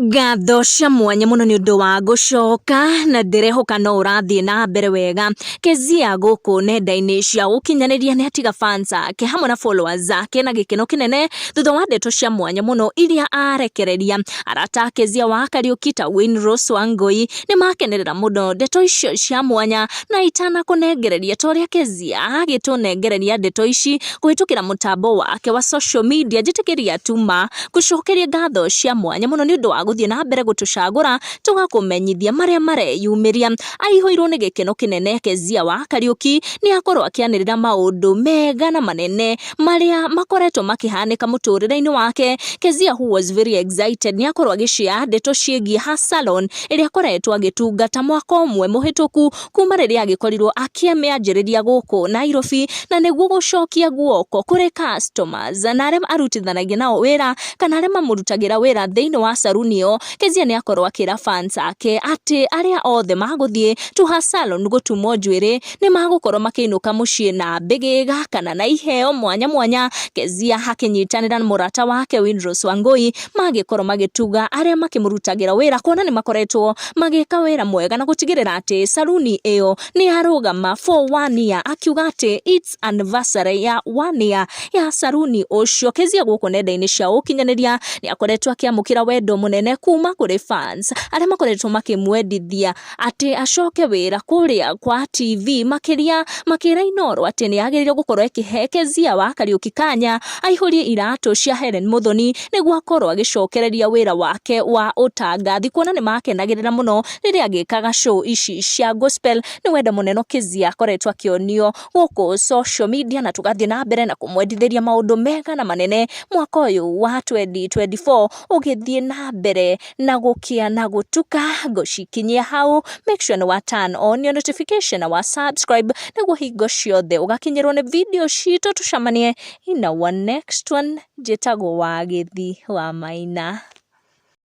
Ngatho cia mwanya mũno nĩ ũndũ wa gũcoka na ndĩrehoka no ũrathiĩ na mbere wega. Kezia gũkũ nenda-inĩ cia ũkinyanĩria nĩ atiga fans ake hamwe na followers ake na gĩkeno kĩnene thutha wa ndeto cia mwanya mũno iria arekereria. Arata a Kezia wa Kariuki ta Wayne Ross Wangui nĩ makenerera mũno ndeto icio cia mwanya na itanakũnengereria ta ũrĩa Kezia agĩtũnengereria ndeto ici kũhĩtũkĩra mũtambo wake wa social media njĩtĩkĩria tu ma. Ngũcokeria ngatho cia mwanya mũno nĩ ũndũ wa gũthiĩ na mbere gũtũcagũra tũgakũmenyithia marĩa mareyumĩria. Aihũirwo nĩ gĩkeno kĩnene Kezia wa Kariũki nĩ akorwo akĩanĩrĩra maũndũ mega na manene marĩa makoretwo makĩhanĩka mũtũrĩre-inĩ wake. Kezia who was very excited nĩ akorwo agĩshare ndeto ciĩgiĩ her salon ĩrĩa akoretwo agĩtungata mwaka ũmwe mũhĩtũku. kuma rĩrĩa agĩkorirwo akĩmĩanjĩrĩria gũkũ Nairobi na nĩguo gũcokia guoko kũrĩ customers na arĩa arutithanagia nao wĩra kana arĩa mamũrutagĩra wĩra thĩinĩ wa salon ĩyo. Kezia nĩ akorwo akĩra fans ake atĩ arĩa othe magũthiĩ to her salon gũtumwo njuĩrĩ nĩ magũkorwo makĩinũka mũciĩ na mbĩgĩga kana na iheo mwanya mwanya. Kezia akĩnyitanĩra na mũrata wake Winrose Wangũi magĩkorwo magĩtuga arĩa makĩmũrutagĩra wĩra kuona nĩ makoretwo magĩka wĩra mwega na gũtigĩrĩra atĩ saruni ĩyo nĩ yarũgama for one year akiuga atĩ it's anniversary ya one year ya saruni ũcio kezia gũkũ nenda-inĩ cia ũkinyanĩria nĩ akoretwo akĩamũkĩra wendo mũnene kuma kũrĩ fans arĩa makoretwo makĩmwendithia atĩ acoke wĩra kũrĩa kwa TV makĩria makĩra Inoro atĩ nĩ agĩrĩirwo gũkorwo akĩhe Kezia wa Kariuki kanya aihũrie iratũ cia Hellen Muthoni nĩguo akorwo agĩcokereria wĩra wake wa ũtangathi kuona nĩ makenagĩrĩra mũno rĩrĩa agĩkaga show ici cia gospel nĩ wendo mũnene Kezia akoretwo akĩonio gũkũ social media na tũgathiĩ na mbere na kũmwendithĩria maũndũ mega na manene mwaka ũyũ wa 2024 ũgĩthiĩ na mbere na gũkĩa na gũtuka ngũcikinyia hau make sure nĩ wa turn on your notification na wa subscribe nĩguo hingo ciothe ũgakinyĩrwo nĩ video citũ tũcemanie in our next one njĩtagwo wa gĩthi wa maina.